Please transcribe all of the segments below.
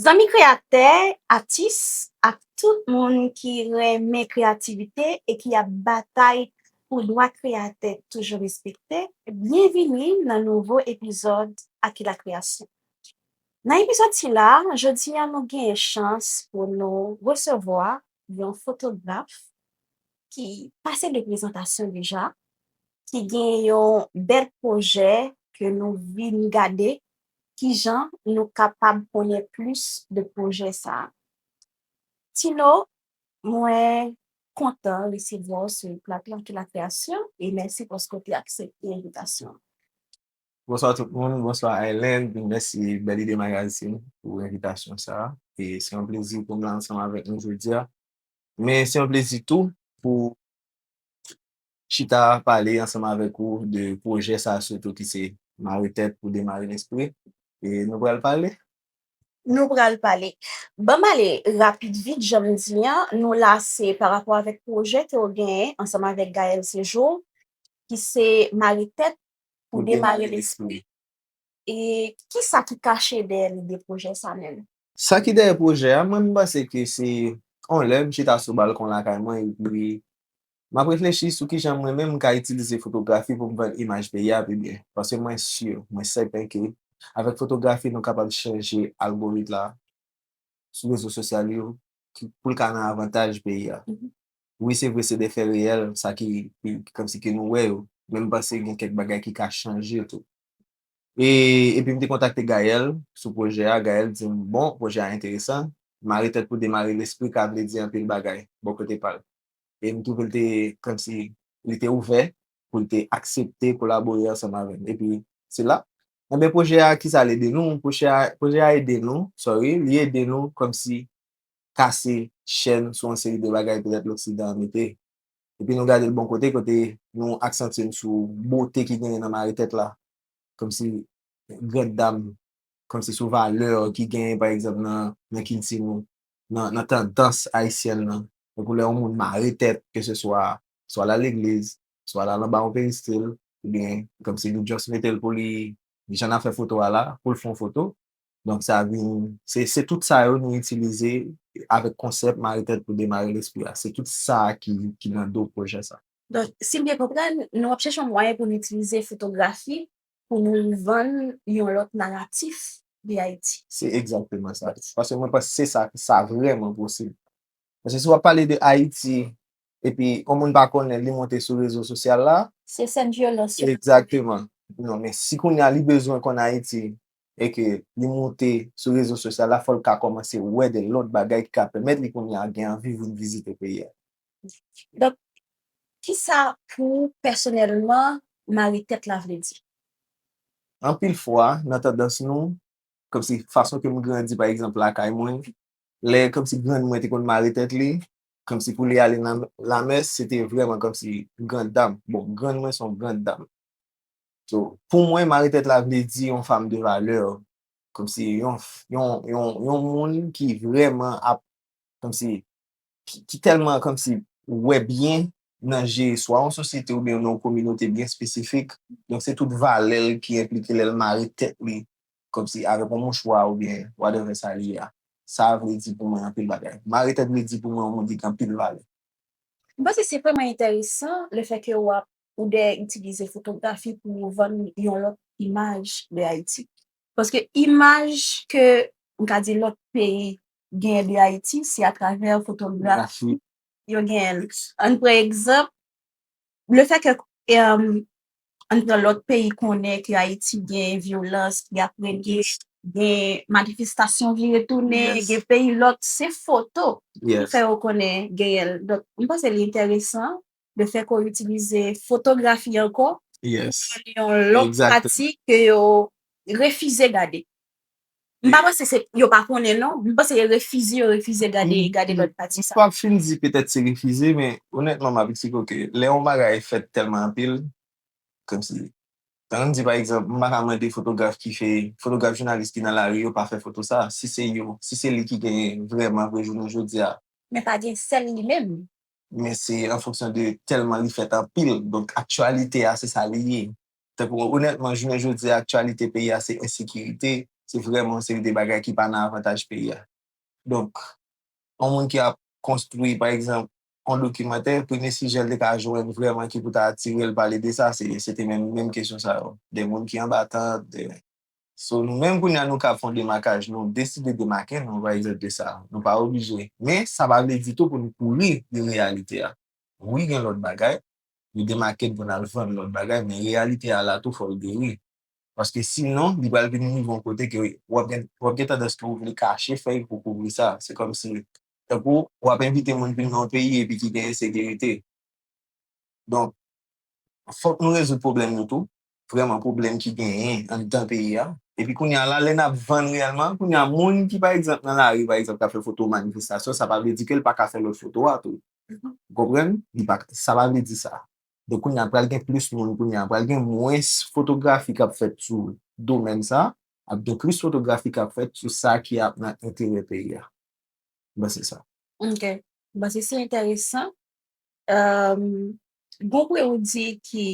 Zanmi kreyatè, atis, ak tout moun ki renmen kreyativite e ki ap batay pou dwa kreyatè toujou respekte, byenvini nan nouvo epizòd Aki La Kreyasyon. Nan epizòd sila, jodi a nou genyen chans pou nou resevwa yon fotograf ki pase de prezantasyon deja, ki gen yon bèl pwojè ke nou vin gade kijan nou kapab konnen plis de pwojè sa. Tino, mwen kontan resevwa w sou plato Aki La Kreyasyon e mèsi paske w te aksepte envitasyon an. Bonswa tout moun, bonswa Island, mèsi Bèl Ide Magazine pou envitasyon sa a. E se yon plezi pou m la ansanm avèk nou jodi a. Men se yon plezi tou pou chita pale ansanm avèk ou de pwojè sa a sitou ki se Mare Tèt pou Demare Lespri. E nou pral pale? Nou pral pale. Ban m ale rapid vit jan m di an, nou la se pa rapò avèk pwojè ke w genyen ansanm avèk Gaëlle Séjour ki se Mare Tèt pou demare lespri. E ki sa ki kache dèyè lide pwojè sa menm? Sa ki dèyè pwojè a, mwen m panse ke se yon lè m chita sou balkon lakay mwen epi m ap reflechi sou kijan mwen menm m ka itilize fotografi pou m rann imaj peyi a pi byen. Paske mwen si, mwen sèten ke avèk fotografi nou kapab chanje algorit la sou rezo sosyal yo pou l ka nan avantaj peyi a. Wi se vre se de fè reyèl sa ki kòmsi ke nou wè yo, men m panse gen kèk bagay ki ka chanje tou. E epi m te kontakte Gaëlle sou pwojè a, Gaëlle di m bon pwojè a enteresan, mare tèt pou demare lespri ka vle di anpil bagay bò kote pa l. E m twouve l te kòmsi li te ouvè pou l te aksepte kolabore ansanm avè m. Epi se la, enben pwojè a kisa l ede nou, pwojè a ede nou, sorry, li ede nou kòmsi kase chèn sou yon seri de bagay petèt loksidan an mete. Epi nou gade l bon kote, kote nou aksantye n sou bote ki genyen nan mare tèt la, kòmsi grande dame, kòmsi sou valè ki genyen pa egzanp nan kilti nou, nan tandans ayisyèn nan. Tankou lè yon moun mare tèt, ke se swa, swa l al legliz, swa l al anba yon peristil, oubyen kòmsi nou just mete l pou li, jan n ap fè foto a la, pou l fè yon foto, Donk sa vin, se, se tout sa yo nou itilize avèk konsèp mare tèt pou demare lespri a. Se tout sa a ki, ki nan do pwojè sa. Donk, si m byen konprann, nou ap chèche yon mwayen pou nou itilize fotografi pou nou vann yon lòt naratif de Ayiti. Se egzakteman sa. Paske mwen panse se sa, sa vrèman posib. Paske si w ap pale de Ayiti epi on moun pa konnen li monte sou rezo sosyal la. Se sèn vyolans yo. Egzakteman. Non men si kounye a li bezwen konn Ayiti e ke li monte sou rezo sosyal la fò l ka kòmanse wè de lòt bagay ki ka pèmèt li kounye a gen anvi vin vizite peyi a. Donk ki sa pou ou pèsonèlman mare tèt la vle di? Anpil fwa nan tandans nou, kòmsi fason ke m grandi pa egzanp lakay mwen, lè kòmsi grann mwen te konn mare tèt li, Kòmsi pou li ale nan lamè, se te vrèman kòmsi grand dam. Bon, grann mwen se yon grand dam. So, pou mwen, mari tèt la vle di yon fam de valè. Kòmsi yon, yon, yon, yon moun ki vrèman ap, kòmsi, ki tèlman kòmsi wè byen nan je swa yon sosyete oubyen nan yon kominote byen espesifik. Donk se tout valè l ki enplike lè l mare tèt li kòmsi avèk yon mouchwa oubyen whatever sa li ye a, sa a vle di pou mwen anpil bagay. Mare tèt vle di pou mwen yon moun ki gen anpil valè. M panse se vrèman enteresan le fè ke ou ap ou de itilize fotografi pou ou vann yon lòt imaj de Ayiti. Paske imaj ke m ka di lòt peyi genyen de Ayiti se atravè fotografi yo genyen l. Ann pran egzanp Le fè ke an nan lòt peyi konnen ke Ayiti gen vyolans ki ap regne, gen manifestasyon ki retounen, gen peyi lòt, se foto ki fè yo konnen genyen l. Donk, m panse li enteresan le fè ke w itilize fotografi ankò, yon lòt pati ke yo refize gade. M pa panse se yo pa konnen non, m panse e refize yo refize gade gade lòt pati sa. M pap fin di petèt se refize men onètman m ap di ke lè yon bagay fèt tèlman anpil kòmsi tan nou di pa egzanp m pa ka mande fotograf ki fè fotograf jounalis ki nan lari yo pa fè foto sa si se yo si se li ki genyen vrèman vre jounen jodi a. Men pa gen sèl li menm. Men se an fonksyon de tèlman li fèt anpil donk aktyalite a se sa li ye. Tankou onètman jounen jodi a aktyalite peyi a se ensekirite, se vrèman yon seri de bagay ki pa nan avantaj peyi a. Donk, yon moun ki ap konstwi pa egzanp yon dokimantè, premye sijè l te ka jwenn vrèman ki pou ta atire l pale de sa se te menm menm kesyon sa yo. De moun ki anba tant, de. So nou menm kounye a nou kab fè yon demakaj, nou deside demake nou pa egzanp de sa. Nou pa oblije. Men sa pa vle di tou pou nou kouri de reyalite a. Wi gen lòt bagay, li demakel pou nal vann lòt bagay men reyalite a la tou fòl geri paske si non li pral vin rive yon kote ke wap gen wap gen tandans ke ou vle kache fèy pou kouvri sa se kòmsi tankou wap envite moun vin nan yon peyi epi ki gen ensekirite donk fòk nou rezoud pwoblèm nou tou vrèman pwoblèm ki genyen anndan peyi a. Epi kounye a la, lè n ap vann reyèlman, kounye a moun ki pa egzanp nan lari pa egzanp k ap fè foto manifestasyon, sa pa vle di ke l pa ka fè lòt foto a tou. Ou konprann? Li pa ka, sa pa vle di sa. Donk kounye a pral gen plis moun kounye a, pral gen mwens fotografi k ap fèt sou domèn sa, ap gen plis fotografi k ap fèt sou sa ki ap nan enterè peyi a. Mwen panse se sa. Ok. Mwen panse se enteresan. Gon pwen ou di ki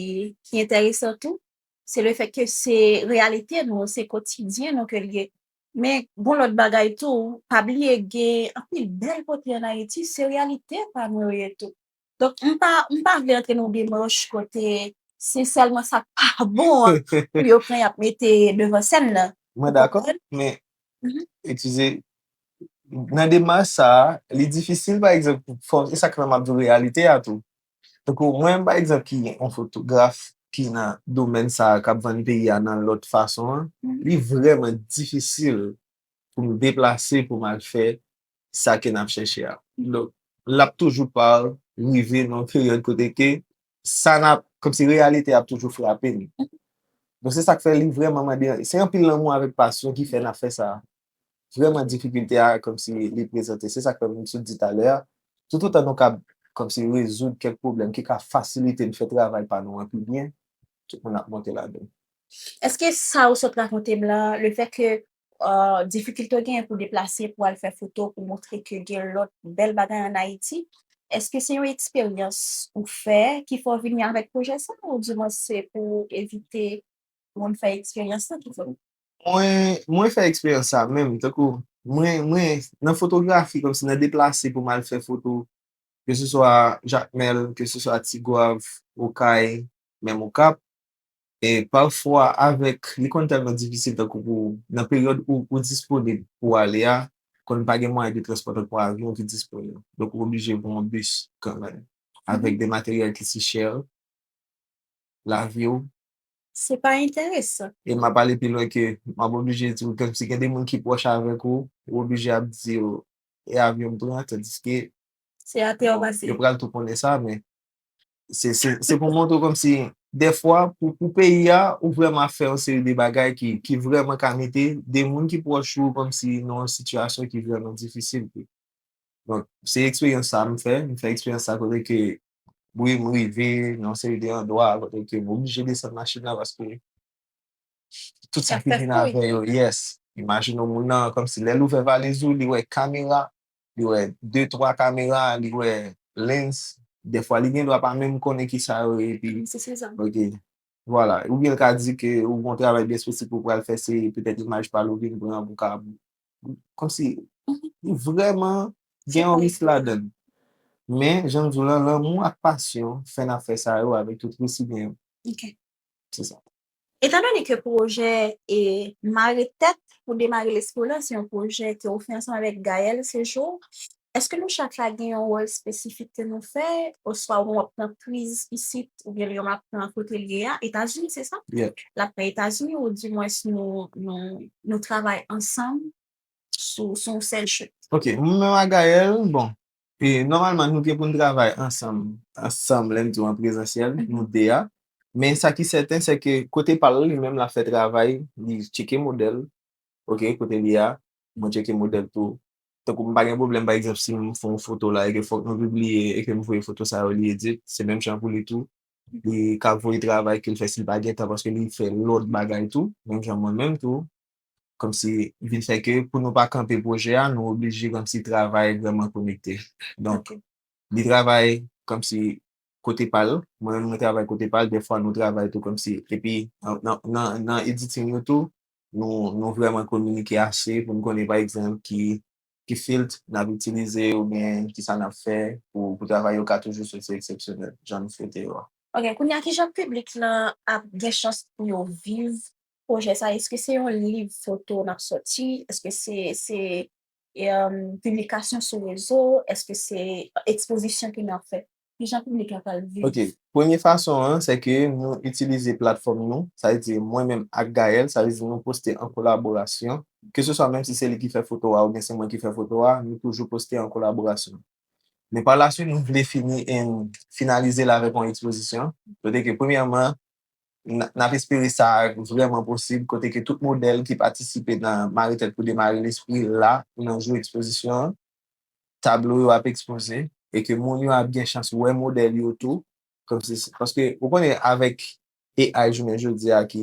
enteresan tou, se le fèt ke se reyalite nou, se kotidyen nou ke li ye. Men, gon lòt bagay tou, pa bliye gen anpil bèl kote an Ayiti, se reyalite pa nou yo ye tou. Donk, m pa vle antre nan yon demach kote se sèlman sa k pa bon an pou yo pran y ap mete devan sèn nan. Mwen dakò, men Etize, nan demach sa a, li difisil pa egzanp pou fò, e sa k fè m ap di w reyalite a tou. Tankou mwen pa egzanp ki yon fotograf ki nan domèn sa a k ap vann peyi a nan lòt fason an, li vrèman difisil pou m deplase pou m al fè sa ke n ap chèche a. Donk, l ap toujou pa rive nan peryòd kote ke sa n ap, kòm si reyalite a ap toujou frape n. Donk se sa k fè li vrèman mande, se anpil lanmou avèk pasyon ki fè n ap fè sa. Vrèman difikilte a kòm si li prezante, se sa k fè m sot di talè a, toutotan nou kab kòm si rezoud kèk pwoblèm ki ka fasilite n fè travay pa nou an pi byen, tout moun ap monte ladan l. Èske sa ou sot rakonte m la, lefètke difikilte w genyen pou deplase pou al fè foto pou montre ke gen lòt bèl bagay an Ayiti, èske se yon eksperyans ou fè ki fè w vini avèk pwojè sa a oudiman se pou evite moun fè eksperyans sa ki fè w. Mwen fè eksperyans sa menm tankou mwen nan fotografi kòmsi nan deplase pou m al fè foto ke se swa Jakmèl, ke se swa Tigwav, Okay, menm Okap, E pafwa avèk li konn tèlman difisil tankou pou nan peryòd ou ou disponib pou w ale a konn pa gen mwayen de transpò tankou avyon ki disponib. Donk ou oblije pran yon bis kanmenm avèk de materyèl ki si chè lavi w. Se pa enteresan. E m ap ale pi lwen ke m ap oblije di w ke si gen de moun ki pwòch avèk ou, ou oblije ap di yo e avyon m pran tandiske Se atè w pase. Yo pral tou konnen sa men Se pou montre w kòm si dèfwa pou peyi a ou vreman fè yon seri de bagay ki vreman ka mete de moun ki pwòch ou kòm si nan yon sitiyasyon ki vreman difisil tou. Donk, se eksperyans sa a m fè. M fè eksperyans sa a kote ke wi m rive nan yon seri de andwa kote ke m oblije desann machin nan paske tout sa ki vin avè yo, yes. Imajine w moun nan kòm si lè l ouvè valiz ou li wè kamera li wè de twa kamera li wè lens dèfwa li gendwa pa menm konnen kisa yo ye epi ok vwala oubyen l ka di ke ou gon travay byen espesifik ou pral fè se petèt imaj pa l ou vin pran pou ka kòmsi li vrèman gen yon risk ladan l men jan m di w lan lanmou ak pasyon fè n ap fè sa yo avèk tout resi gen yo. Se sa. Etan done ke pwojè e Mare tèt pou demare lespri w lan se yon pwojè ke ou fè ansanm avèk Gaëlle Séjour, èske nou chak la gen yon wòl espesifik ke nou fè? Oswa ou menm w ap pran priz isit oubyen Liam ap pran kote l ye a, Etazini, se sa? Yeah. L ap pran Etazini ou dimwens nou, nou, nou travay ansanm sou, sou yon sèl chute? Ok. Mwen menm ak Gaëlle, bon, Nòmalman nou gen pou n travay ansanm, ansanm lè m di w an prezansyèl, nou 2 a, men sa ki sèten se ke kote pa l li menm l ap fè travay li tcheke modèl ok kote li a mwen tcheke modèl tou tankou m pa gen pwoblèm pa egzanp si m fè yon foto la e ke fòk nou pibliye e ke m voye foto sa yo li edit se menm jan pou li tou li ka voye travay ke l fè si l pa gen tan paske li fè lòt bagay tou menm jan mwen menm tou. kòmsi vin fè ke pou nou pa kanpe pwojè a nou oblije kòmsi travay vrèman konekte donk li travay kòmsi kote pa l mwen menm mwen travay kote pa l dèfwa nou travay tou kòmsi epi nan editing nou tou nou vrèman kominike ase pou n konnen pa egzanp ki filt n ap itilize oubyen kisa n ap fè pou travay yo ka toujou soti eksepsyonèl jan nou swete yo a. Ok, kounye a kijan piblik lan ap gen chans pou yo viv Pwojè sa eske se yon liv foto nap sòti, eske se se piblikasyon sou rezo, eske se ekspozisyon ke nap fè? Kijan piblik la pral viv? Ok, premye fason an se ke nou itilize platfòm nou, sa vle di mwen menm ak Gaëlle, sa vle di nou poste an kolaborasyon, ke se swa menm si se li ki fè foto a oubyen se mwen ki fè foto a, nou toujou poste an kolaborasyon. Men pa la swit nou vle fini finalize l avèk yon ekspozisyon, kote ke premyèman N ap espere sa vrèman posib kote ke tout modèl ki patisipe nan Mare Tèt pou Demare Lespri la nan jou ekspozisyon an. Tablo yo ap ekspoze e ke moun yo ap gen chans wè modèl yo tou paske ou konnen avèk AI jounen jodi a ki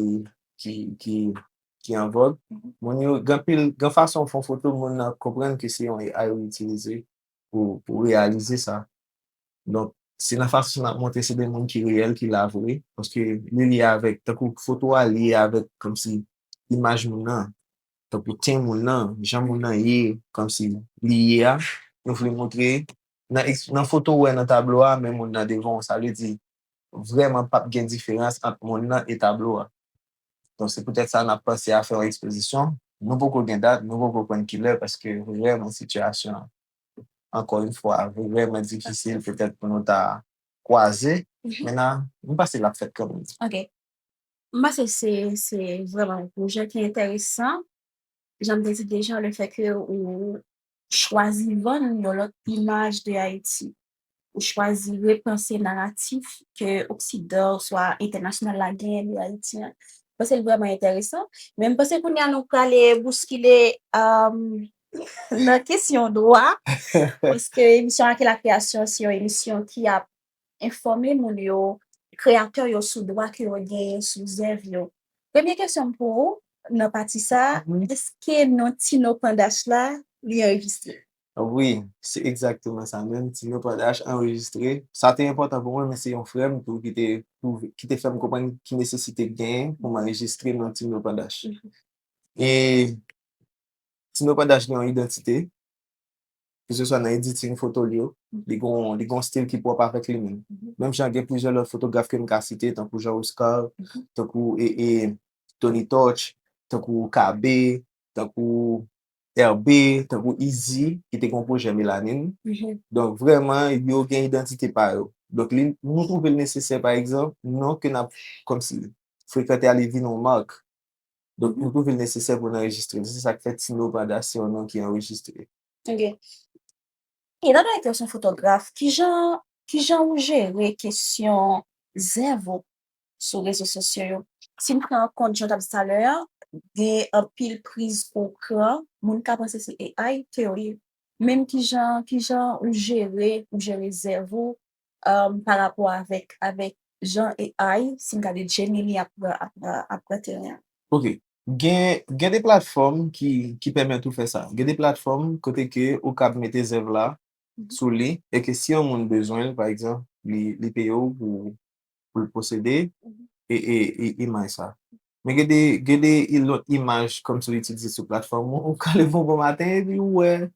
an vòg, moun yo gen anpil, gen fason ou fè yon foto moun nan konprann ke se yon AI ou itilize. pou reyalize sa. Donk, se nan fason n ap montre se de moun ki reyèl, ki la vre, paske li lye avèk, tankou foto a lye avèk kòmsi imaj moun nan, tankou ten moun nan, jan moun nan ye, kòmsi li ye a, nou vle montre nan foto ou wè nan tablo a men moun nan devan w, sa vle di vrèman p ap gen diferans ant monn nan e tablo a. Donk se poutèt sa n ap panse a fè yon ekspozisyon. Nou poko gen dat, nou poko konn ki lè paske vrèman sitiyasyon an, ankò yon fwa, vrèman difisil petèt pou nou ta kwaze. Men n a, m panse l ap fèt kanmenm. Ok. M panse se se vrèman yon pwojè ki enteresan. Jan m te di deja, lefèke ou chwazi vann yon lòt imaj de Ayiti, ou chwazi repanse naratif ke oksidan oswa entènasyonal la genyen de Ayiti an. M panse l vrèman enteresan. Men m panse kounye a nou prale bouskile nan kesyon dwa paske emisyon Ake Lakreyasyon se yon emisyon ki ap enfòme moun yo, kreyatè yo sou dwa ke yo genyen sou zèv yo. Premye kesyon m pou ou nan pati sa, èske non Tino Pandach la li anrejistre? Wi, se egzakteman sa menm, Tino Pandach anrejistre. Sa te enpòtan pou mwen, men se yon frè m tou ki te twouve, ki te fè m konprann ki nesesite k genyen pou m anrejistre non Tino Pandach. E Tino Pandach gen yon idantite. Keseswa nan editing foto l yo, li gen yon stil ki pwòp avèk li menm. Menm jan gen plizyè lòt fotograf ke m ka site, tankou Jean Oscar, tankou Tony Torch, tankou KB, tankou Herbe, tankou Izi, ki te gen yon pwojè Melanin. Donk vrèman, yo gen idantite pa yo. Donk li, nou twouve l nesesè, pa egzanp, non ke n ap kòmsi frekante a li vin yon mark. Donk li tou vin nesesè pou n anrejistre l. Se sa k fè Tino Prada se yon non ki anrejistre. Ok. Etandone ke w se yon fotograf, ki jan ki jan ou jere kesyon zèv ou sou rezo sosyo yo? Si n pran an kont jan w t ap di talè a, gen anpil priz pou w pran, moun ka panse se AI ke w ye. Menm ki jan ki jan ou jere ou jere zèv ou Pa rapò avèk Jean et Ai, si m gade Gemini ap pran teren an. Ok, gen de platfòm ki pèmèt ou fè sa. Gen de platfòm kote ke ou kab mete zèv la sou li e ke si yon moun bezwen l, pa egzanp, li peye ou pou pou l posede imaj sa. Men gen de gen de lòt imaj kòmsi ou itilize sou platfòm ou, ou ka leve yon bon maten epi ou wè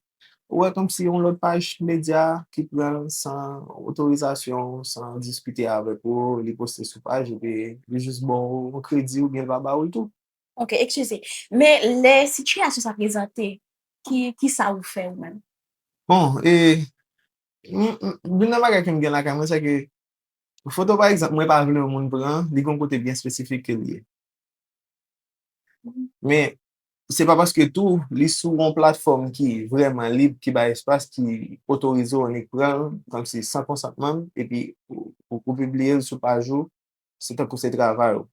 ou wè kòmsi yon lòt paj medya ki pran l san otorizasyon w, san diskite avèk ou, li poste sou paj epi li jis ba w yon kredi oubyen l pa ba w l tou. Ok, ekskize. Men lè sitiyasyon sa prezante, ki kisa ou fè ou menm? Bon, e youn nan bagay ke m gen lakay mwen sèke Foto pa egzanp mwen pa vle yon moun pran, li gen yon kote byen espesifik ke li ye. Men, se pa paske tou li sou yon platfòm ki vrèman lib, ki bay espas, ki otorize w annik pran l kòmsi san konsantman m epi ou pibliye l sou paj ou, se tankou se travay ou.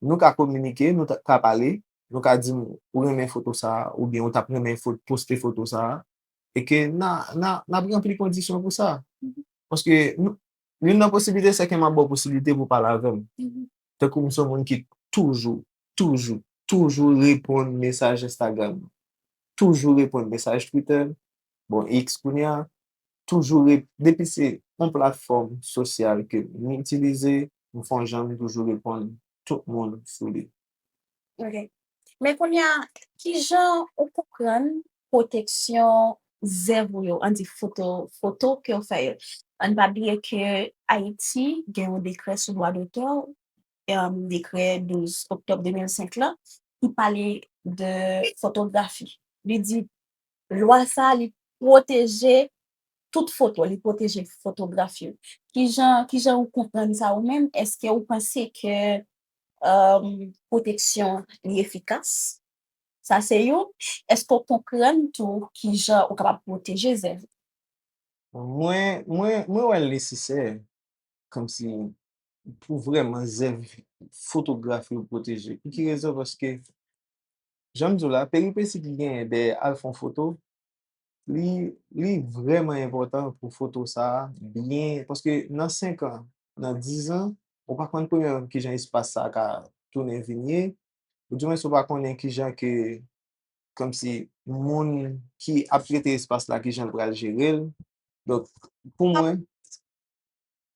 Nou ka kominike, nou ka pale, nou ka di m ou renmen foto sa a oubyen ou t ap renmen poste foto sa a e ke n ap ranpli kondisyon pou sa. Paske, youn nan posiblite se ke m ap ba w posiblite pou w pale avè m. Tankou m se yon moun ki toujou, toujou, toujou reponn mesaj Instagram m, toujou reponn mesaj Twitter m, bon X kounye a, toujou re, depi se yon platfòm sosyal ke m itilize, m fon jan m toujou reponn tout moun sou li. Ok. Men kounye a, ki jan ou konprann pwoteksyon zèv ou yo, an di foto, foto ke ou fè yo? Ann pa bliye ke Ayiti gen yon dekrè sou dwa dotè, dekrè 12 oktòb 2005 la, ki pale de fotografi. Li di Lwa sa a li pwoteje tout foto, li pwoteje fotograf yo. Kijan, kijan ou konprann sa ou menm? Eske ou panse ke pwoteksyon li efikas? Sa se youn. Eske ou konprann tou kijan ou kapab pwoteje zèv ou? Mwen, mwen, mwen wè l nesesè kòmsi pou vrèman zèv fotograf yo pwoteje. Pou ki rezon? Paske Jan m di w la, peripesi ki genyen dèyè al fè yon foto, li, li vrèman enpòtan pou foto sa a byen, paske nan senkan, nan dizan, ou pa konn premyèman ki jan espas sa a ka tounen vin ye, ou di mwens ou pa konnen ki jan ke, kòmsi, moun ki ap trete espas la ki jan l pral jere l. Donk, pou mwen,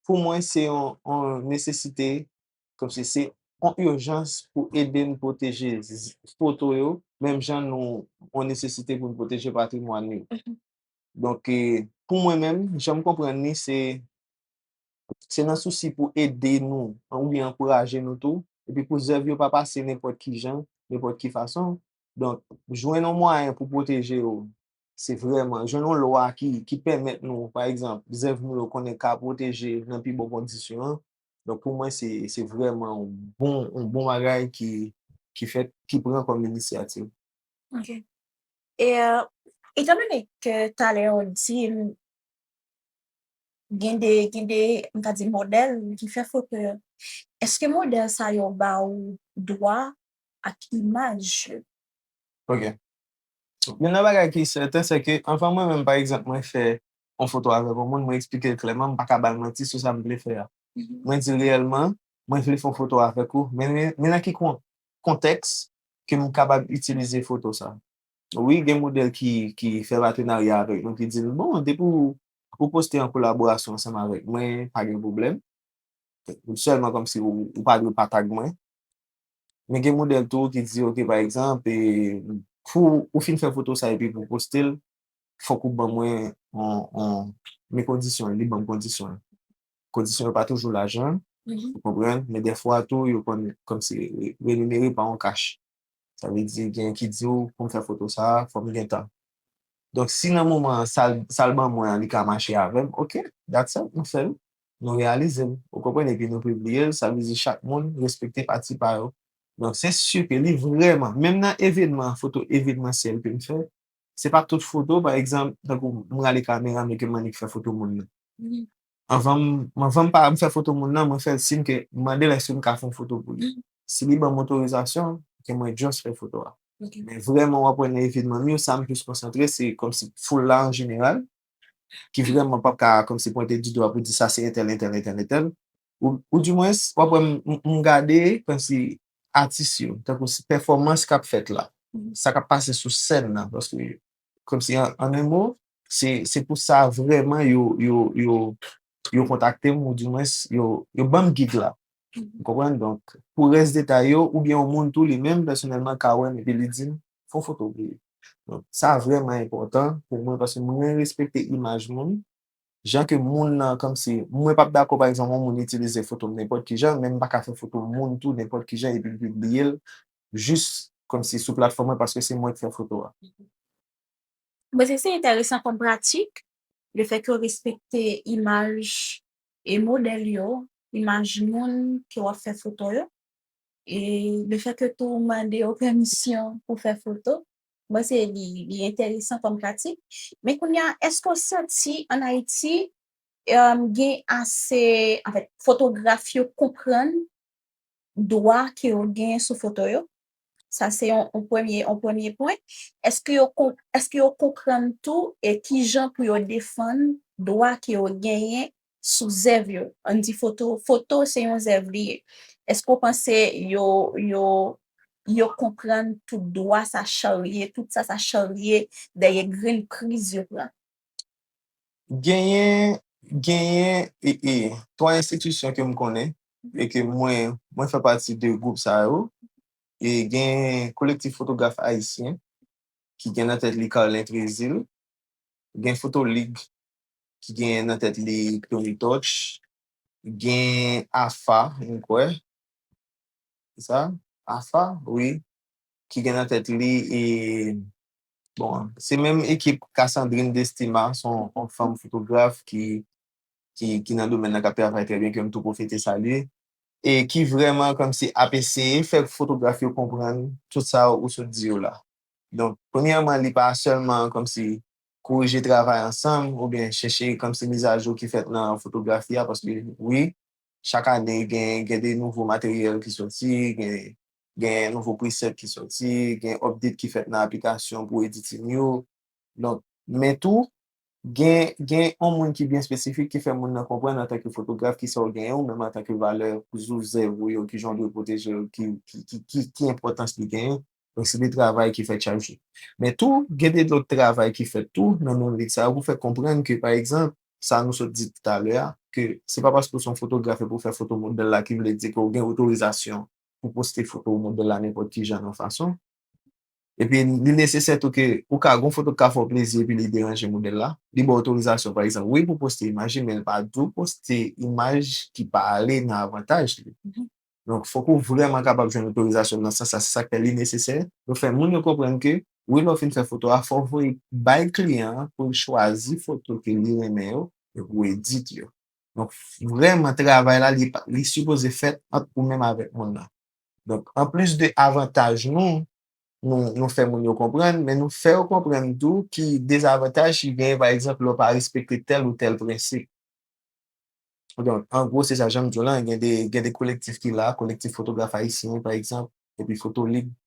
pou mwen se yon, yon nesesite Kòmsi se yon ijans pou ede n pwoteje foto yo menm jan nou yon nesesite pou n pwoteje patrimwàn yo. Donk, pou mwen menm, jan m konprann li se se nan sousi pou ede nou oubyen ankouraje nou tou epi pou zèv yo pa pase nenpòt ki jan, nenpòt ki fason. Donk, jwenn yon mwayen pou pwoteje yo se vrèman, jwenn yon lwa ki pèmèt nou, pa egzanp, zèv nou yo konnen ka pwoteje nan pi bon kondisyon, Donk pou mwen se vrèman yon bon bagay ki fèt, ki pran kòm inisyativ. Ok. E etan done ke talè ou di m gen de, gen de, m ta di modèl ki fè foto yo, èske modèl sa yo ba ou dwa ak imaj yo? Ok. Youn nan bagay ki sèten se ke anvan mwen menm pa egzanp mwen fè yon foto avèk yon moun, mwen eksplike l klèman, m pa ka ba l manti sou sa m vle fè a. Mwen di l reyèlman, mwen vle fè yon foto avèk ou, men men nan ki kontèks ke m kapab itilize foto sa. Wi gen modèl ki ki fè patenarya avèk nou ki di m bon depi w ou poste an kolaborasyon ansanm avèk mwen pa gen pwoblèm, sèlman kòmsi w ou pa dwe pa tag mwen. Men gen modèl tou ki di ok pa egzanp pou ou fin fè foto sa epi pou w poste l fòk ou ban mwen yon men kondisyon li ban m kondisyon l kondisyon yo pa toujou lajan ou konprann men dèfwa tou yo konn kòmsi reminere pa yon kach sa vle di gen ki di w pou m fè foto sa fò m gen tan donk si nan moman sa l ban mwen an li ka mache avè m ok dat sa m fè l nou reyalize l, ou konprann, epi nou pibliye l, sa vle di chak moun respekte pati pa yo. Donk se si ke li vrèman, menm nan evenman, foto evenmansyèl ke m fè, se pa tout foto, pa egzanp, tankou m rale kamera m e ke m annik fè foto moun nan. Anvan m anvan m pa m fè foto moun nan, mwen fè l siy ke m mande l èske m ka fè yon foto pou li. Si li ban m otorizasyon, ke mwen just fè foto a. Men vrèman w ap wè nan evenman m yo, sa m plis konsantre se kòmsi foul la an jeneral, ki vrèman pap ka kòmsi pwente di dwa pou di sa se entèl, entèl, entèl, entèl, ou di mwens wap wè m gade kòmsi atis yo, tankou se pèfòmans kap fèt la, sa kap pase sou sèn nan, paske kòmsi an en mo, se pou sa vrèman yo kontakte m ou di mwens yo banm gig la. Ou konprann? Donk, pou rès detay yo, oubyen yon moun tou li menm pèsonèlman ka wè m epi li di m, Fè yon foto pou li. Donk, sa vrèman enpòtan pou mwen paske mwen renmen respekte imaj moun, jan ke moun nan kòmsi, mwen p ap dakò pa egzanp yon moun itilize foto m nenpòt ki jan, menm m pa ka fè foto moun tou nenpòt ki jan epi m pibliye l jis kòmsi sou platfòm mwen paske se mwen k fè foto a. Mwen panse se enteresan kòm pratik, lefètke w respekte imaj E modèl yo, imaj moun ke w ap fè foto yo, e lefètke tou ou mande yo pèmisyon pou w fè foto, m panse li enteresan kòm pratik. Men kounye a, èske w santi ann Ayiti gen ase, anfèt, fotograf yo konprann dwa ke yo genyen sou foto yo, sa se yon premye, yon premye pwen. Eske yo kon, eske yo konprann tou e ki jan pou yo defann dwa ke yo genyen sou zèv yo? Ann di foto, foto se yon zèv li ye. Eske w panse yo, yo, yo konprann tout dwa sa charye, tout sa sa charye dèyè grenn kriz yo pran? Genyen, genyen e e 3 enstitisyon ke m konnen e ke mwen, mwen fè pati de gwoup sa yo. E gen Kolektif Fotograf Ayisyen ki gen nan tèt li Carlin Trésil, gen Foto Lig ki gen nan tèt li Tony Touch, gen AFA, mwen kwè, se sa? AFA, wi. ki gen nan tèt li e bon se menm ekip Cassandrine Destima son on fanm fotograf ki ki nan domèn nan kap travay trè byen ke m tou pwofite salye e ki vrèman kòmsi ap eseye fè fotograf yo konprann tout sa ou sot di yo la donk premyèman li pa sèlman kòmsi korije travay ansanm oubyen chèche kòmsi mizajou ki fèt nan fotografi a paske wi chak ane gen gen de nouvo materyèl ki soti gen gen nouvo preset ki soti, gen update ki fèt nan aplikasyon pou editing yo. Donk, men tou, gen, gen yon moun ki byen espesifik ki fè moun nan konprann antanke fotograf ki sa ou genyen ou menm antanke valè sou zèv ou yo, ki jan ou dwe pwoteje yo, ki, ki, ki, ki enpòtans li genyen. Donk, se de travay ki fèt chak jou. Men tou, gen de lòt travay ki fèt tou nan menm lit sa yo pou fè konprann ke pa egzanp, sa nou sot di toutalè a, ke se pa paske ou se yon fotograf epi ou fè foto modèl la ki vle di ke ou gen otorizasyon pou poste foto ou modèl la nenpòt ki jan nan fason. Epi li nesesè tou ke ou ka gen yon foto ki ka fè w plezi epi li deranje modèl la. Li ba w otorizasyon pa egzanp wi pou poste imaj li men li pa di w poste imaj ki pa ale nan avantaj li. Donk fòk ou vrèman kapab jwenn otorizasyon nan sans sa. Se sa k fè li nesesè pou fè moun yo konprann ke wi lè w fin fè foto a fò w voye bay kliyan an pou l chwazi foto ke li renmen yo epi pou edit yo. Donk vrèman travay la li sipoze fèt ant ou menm avèk moun nan. Donk anplis de avantaj nou, nou fè moun yo konprann, men nou fè yo konprann tou ki dezavantaj ki genyen pa egzanp lè w pa respekte tèl ou tèl prensip. Donk an gwo se sa, jan m di w lan gen de kolektif ki la, Kolektif Fotograf Ayisyen pa egzanp, epi Fotolib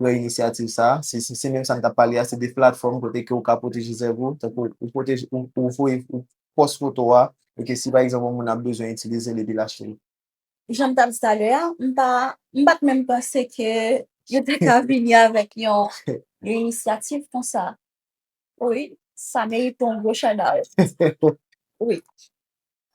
pran inisyativ sa a. Se se menm sa m t ap pale a, se de platfòm kote ke ou ka pwoteje zèv ou. Tankou ou pwoteje, ou voye, ou pòs foto a e ke si pa egzanp yon moun ap bezwen itilize l epi l achte l. Jan m t ap di talè a, m pa, m pa t menm panse ke yo te ka vini avèk yon inisyativ konsa. Wi, sa merite yon gwo chadaw. Wi.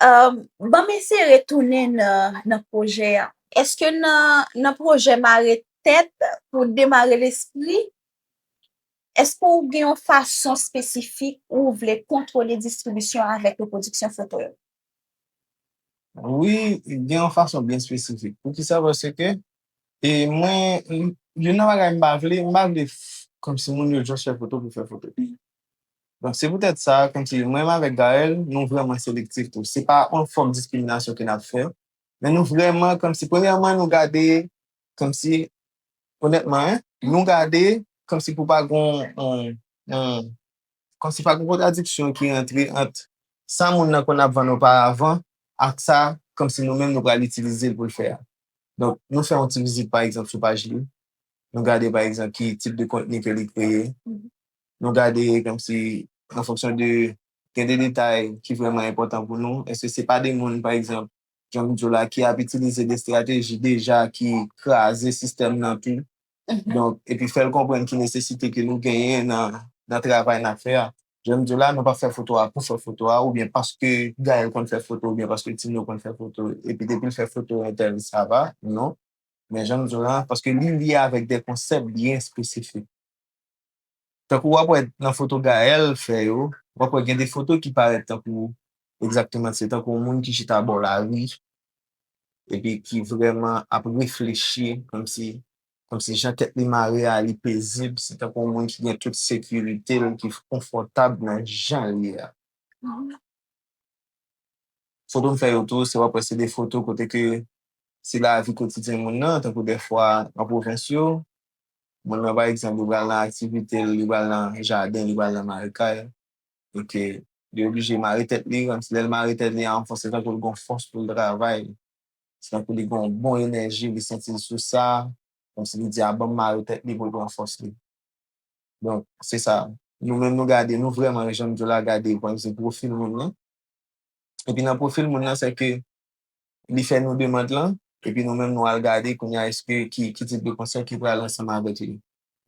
Ban m eseye retounen nan pwojè a. Eske nan pwojè mare tèt pou demare lespri, eske w gen yon fason espesifik ou vle kontwole distribisyon avèk repwodiksyon foto yo? Wi, gen yon fason byen espesifik. Poukisa? Paske e mwen youn nan bagay m pa vle, m pa vle kòmsi moun yo just fè foto pou fè foto. Donk se poutèt sa kòmsi mwen avèk Gaëlle nou vrèman selektif tou. Se pa yon fòm diskriminasyon ke n ap fè, men nou vrèman kòmsi premyèman nou gade kòmsi onètman nou gade kòmsi pou pa gen yon Kòm si pa gen kontradiksyon ki rantre ant sa moun nan konn ap vann oparavan ak sa kòm si nou menm nou pral itilize l pou l fè a. Donk, nou fè yon ti vizit pa egzanp sou paj li, nou gade pa egzanp ki tip de kontni ke li kreye, nou gade kòm si an fonksyon de gen de detay ki vrèman enpòtan pou nou, èske se pa de moun pa egzanp jan m di w la ki ap itilize de estrateji deja ki kraze sistèm nan tou. Donk, epi fè l konprann ki nesesite ke nou genyen nan travay n ap fè a. Jan m di w la, nou pa fè foto a pou fè foto a oubyen paske Gaëlle konn fè foto oubyen paske Tino konn fè foto epi depi l fè foto entèl sa va, non. Men jan m di w la, paske li lye avèk de konsèp byen espesifik. Tankou wap wè nan foto Gaël fè yo, wap wè gen de foto ki parèt tankou egzakteman se tankou yon moun ki chita bò lari epi ki vrèman ap reflechi kòmsi kòmsi jan tèt li mare a li pezib, se tankou yon moun ki gen tout sekirite l, ki konfòtab nan jan l ye a. Foto m fè yo tou se wap wè se de foto kote ke se lavi kotidyen moun nan tankou dèfwa nan pwovens yo Moun nan pa egzanp li pral nan aktivite l, li pral nan jaden, li pral nan mare kay, e ke li oblije mare tèt li, kòmsi lè l mare tèt li an fòs se tankou l gon fòs pou l travay, se tankou li gon bon enèji, li santi l sou sa, kòmsi li di a ban m mare tèt li pou l pran fòs li. Donk, se sa. Nou menm nou gade, nou vrèman jan m di w la gade pwennvi pwofil moun nan, epi nan pwofil moun nan se ke li fè nou demand lan epi nou menm nou al gade kounye a eske ki ki tip de konsèy ki pral ansanm avèk li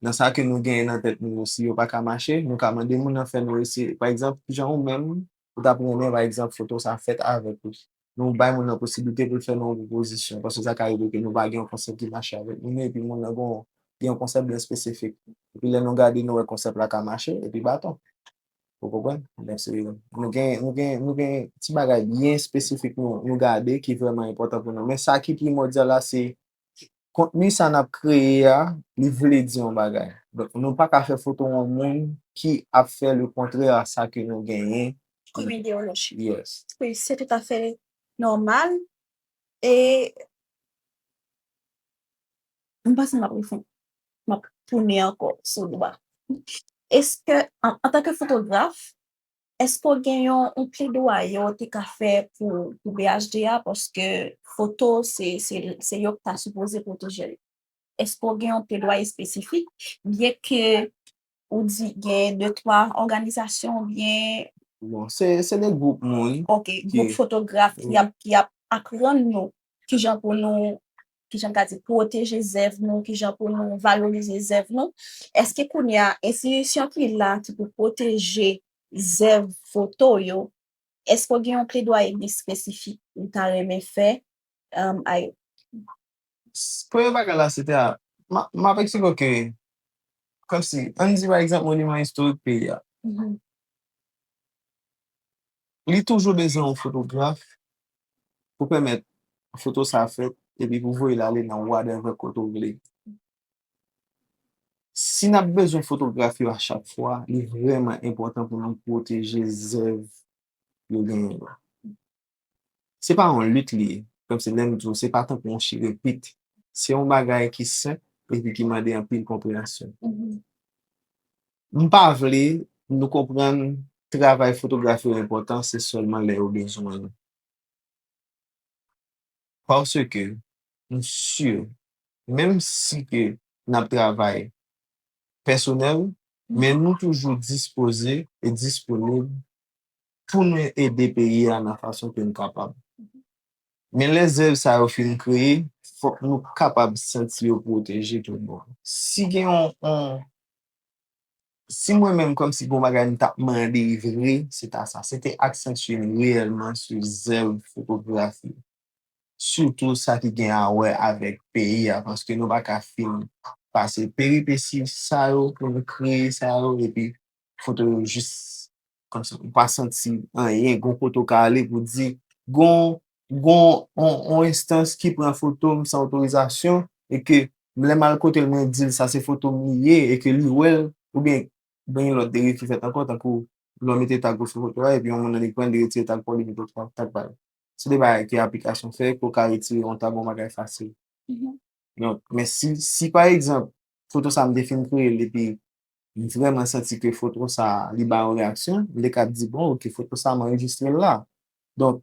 nan sa ke nou genyen nan tèt nou yo si yo pa ka mache nou ka mande moun nan fè nou eseye pa egzanp kijan ou menm ou tap renmen pa egzanp foto sa fèt avèk ou nou bay moun nan posiblite pou l fè nou yon pwopozisyon paske sa ka rive ke nou pa gen yon konsèp ki mache avèk moun nan epi moun nan gen yon gen yon konsèp byen espesifik epi lè nou gade nou wè konsèp la ka mache epi baton. Ou konprann? Donk se, nou gen, nou gen, nou gen ti bagay byen espesifik nou, nou gade ki vrèman enpòtan pou nou. Men sa ki primòdyal la se, kontni sa n ap kreye a, li vle di yon bagay. Donk nou pa ka fè foto yon moun ki ap fè le kontrè a sa ke nou genyen. Kòm ideyoloji. Yes. Wi, se toutafè nòmal e M'panse m'ap refon, m'ap tounen ankò sou dwa. Eske, antanke fotograf, eske ou gen yon pledwaye ou te ka fè pou BHD a paske foto se se yo ki ta sipoze pwoteje l? Eske ou gen yon pledwaye espesifik byenke Ou di gen de twa òganizasyon oubyen? Bon, se de gwoup moun. Ok, gwoup fotograf ki ap aprann nou ki jan pou nou, ki jan m ka di, pwoteje zèv nou, ki jan pou nou valorize zèv nou. Eske kounye a, enstitisyon ki la ki pou pwoteje zèv foto yo, eske ou gen yon pledwaye espesifik ou ta renmen fè a yo? Premye bagay la se te a, m ap eksplike w ke, kòmsi, ann di pa egzanp moniman istorik peyi a, li toujou bezwen yon fotograf pou pèmèt foto sa a fèt epi pou voye l ale nan wadèvè kote w vle. Si n ap bezwen fotograf yo a chak fwa, li vrèman enpòtan pou nou pwoteje zèv yo genyen yo. Se pa yon lit li ye, kòmsi lè m di w se pa tankou yon chirepit, se yon bagay ki senp epi ki mande anpil konpreyansyon. M pa vle nou konprann travay fotograf yo enpòtan se sèlman lè yo bezwen nou. Paske m si menm si ke n ap travay pèsonèl men nou toujou dispoze e disponib pou nou ede peyi a nan fason ke nou kapab. Men lè zèv sa yo fin kreye, fòk nou kapab santi yo pwoteje tout bon. Si gen yon, si mwen menm kòm si gen yon bagay m ta mande vre, se ta sa, se te aksantye m reyèlman sou zèv fotografi, sitou sa ki gen a wè avèk peyi a, paske nou pa ka fin pase peripesi sa yo pou nou kreye sa yo epi Foto yo jis kòmsi ou pa santi anyen, gon kote ou ka ale pou di, gon yon enstans ki pran foto m san otorizasyon e ke lè m al kote l mwen di l sa se foto m li ye e ke li wè l oubyen gen yon lòt deriv ki fèt ankò tankou lè w mete tag ou sou foto a epi yon moun annik pran l li retire tag pa w li mete lòt tag pa l. Se de bagay ke aplikasyon fè ke w ka retire yon tag yon bagay fasil. Donk, men si, si pa egzanp, foto sa a m te fin kreye l epi m vrèman santi ke foto sa a li bay yon reyaksyon, m te kab di bon ok foto sa a m anrejistre l la. Donk,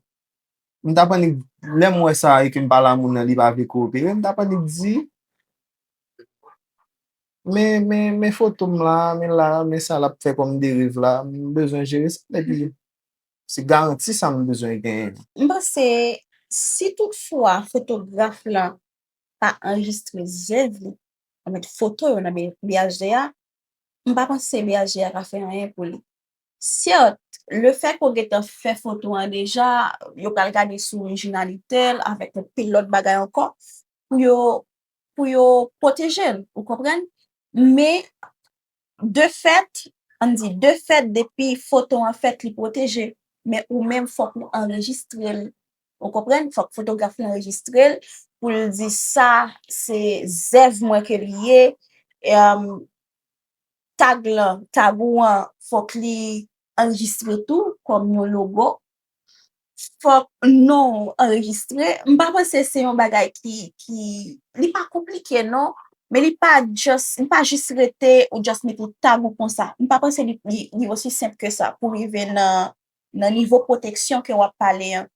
m t ap annik, lè m wè sa e ke m pale a moun nan li pa vle kowopere, m t ap annik di, men, men, men foto m la a, men la a, men sa l ap fè kòm deriv la a, m bezwen jere sa epi. Se garanti sa nou bezwen genyen. M panse si tout fwa fotograf la pa anrejistre zèv li, yo met foto yo nan BHD a, m pa panse BHD a ka fè anyen pou li. Sèt, le fè ke w gentan fè foto an deja, yo pral gade sou orijinalite l avèk yon pil lòt bagay ankò pou yo pou yo pwoteje l, ou konprann? Men, De fèt, ann di, de fèt depi foto an fèt li pwoteje, men ou menm fòk ou anrejistre l. Ou konprann? Fòk fotograf lan anrejistre l pou l di sa se zèv mwen ke li ye. Tag lan, tag ou an fòk li anrejistre tou kòm yon logo. fòk non ou anrejistre, m pa panse se yon bagay ki, ki, li pa konplike non, men li pa just, li pa jis rete ou just mete tag ou konsa, m pa panse li, li osi senp ke sa pou rive nan, nan nivo pwoteksyon ke wap pale an.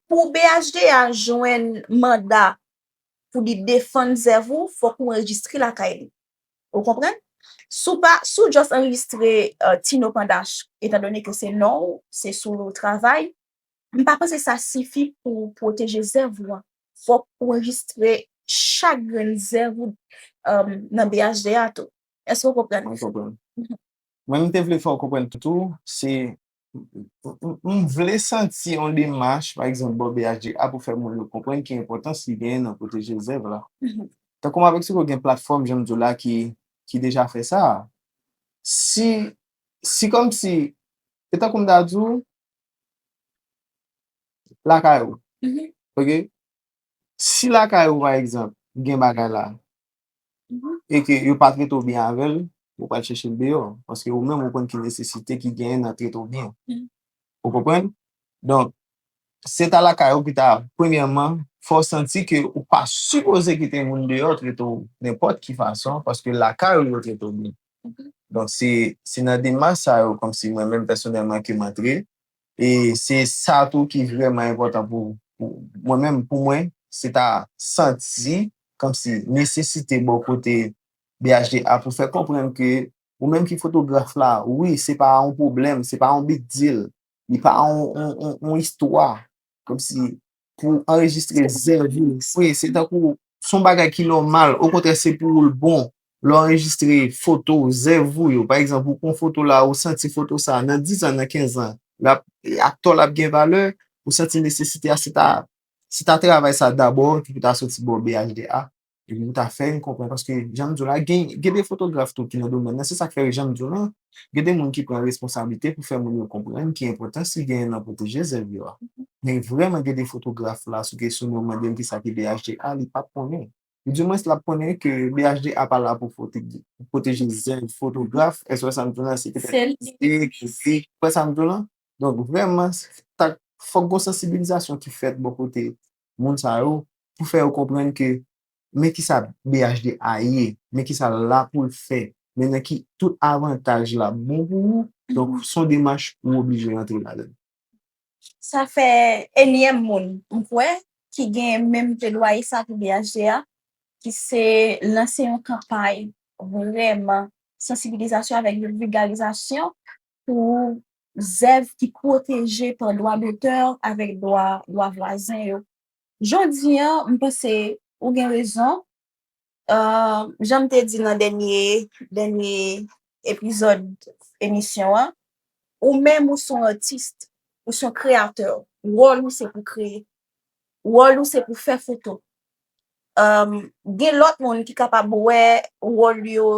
Pou BHDA jwenn manda pou li defann zèv ou, fòk ou anrejistre lakay li. Ou konprann? Si w pa, si w just anrejistre Tino Pandach etan done ke se non ou, se sou li w travay, m pa panse sa sifi pou w pwoteje zèv ou an. Fòk ou anrejistre chak grenn zèv ou nan BHD a tou. Èske w konprann? Mwen konprann. Mwen m te vle fè w konprann tou, se M vle santi yon demach, pa egzanp, bò BHDA pou fè moun yo konprann ki enpòtans li genyen nan pwoteje zèv la. Tankou m ap eksplike w gen platfòm, jan m di w la, ki deja fè sa a. Si, si kòmsi, se tankou m ta di w, lakay ou, ok, si lakay ou pa egzanp gen bagay la, e ke yo pa trete w byen avè l, ou pral chèche l deyò. Paske ou menm ou konn ki nesesite ki genyen nan trete w byen. Ou konprann? Donk, se ta lakay ou ki ta, premyèman, fè w santi ke ou pa sipoze kite moun deyò trete w nenpòt ki fason, paske lakay ou yo trete w byen. Donk, se nan demach sa yo, kòmsi mwen menm pèsonèlman, ke m antre, E se sa tou ki vrèman enpòtan pou mwen menm. Pou mwen, se ta santi kòmsi nesesite bò kote BHD a pou fè konprann ke ou menm ki fotograf la, wi, se pa yon pwoblèm, se pa yon big deal, li pa yon istwa. Kom si pou anrejistre zèv ou. Wi, se tankou son bagay ki nòmal. O kontrè se pou ou l bon. Lè w anrejistre foto ou, zèv ou yo. Pa egzanp, ou pran foto la, ou santi foto sa nan dizan, nan kenzan. Ak tò l ap gen valè, ou santi nesesite a se ta travay sa dabò ki pou ta soti bò BHDA. Epi nou ta fè yon konprann paske jan m di w la gen gen de fotograf tou ki nan domèn nan se sa k fè jan m di w lan gen de moun ki pran responsablite pou fè moun yo konprann ki enpòtans ki genyen nan pwoteje zèv yo a men vrèman gen de fotograf la sou kesyon nan w mande l ki sa ki BHD a li pap konnen ou di mwens l ap konnen ke BHD a pa la pou fote pou pwoteje zèv fotograf èske w wè sa m di w lan se petèt atistik mizik ou wè sa m di w lan donk vrèman sa k fòk gon sansibilizasyon ki fèt bò kote moun sa yo pou fè yo konprann ke men kisa BHD a ye, men kisa l la pou l fè, men nan ki tout avantaj l ap bon pou ou, donk s on demach ou oblije rantre ladan l. Sa fè enyèm moun, m kwè, ki gen menm pledwaye sa pou BHD a, ki se lanse yon kanpay vrèman sansibilizasyon avèk yon vilgarizasyon pou zèv ki pwoteje pa dwa dotè avèk dwa dwa vwazen yo. Jodi an, m panse ou gen rezon. Jan m te di nan dènye dènye epizòd emisyon an, ou menm ou son atis, ou son kreyatè, wòl ou se pou kreye. Wòl ou se pou fè foto, gen lòt moun ki kapab wè wòl yo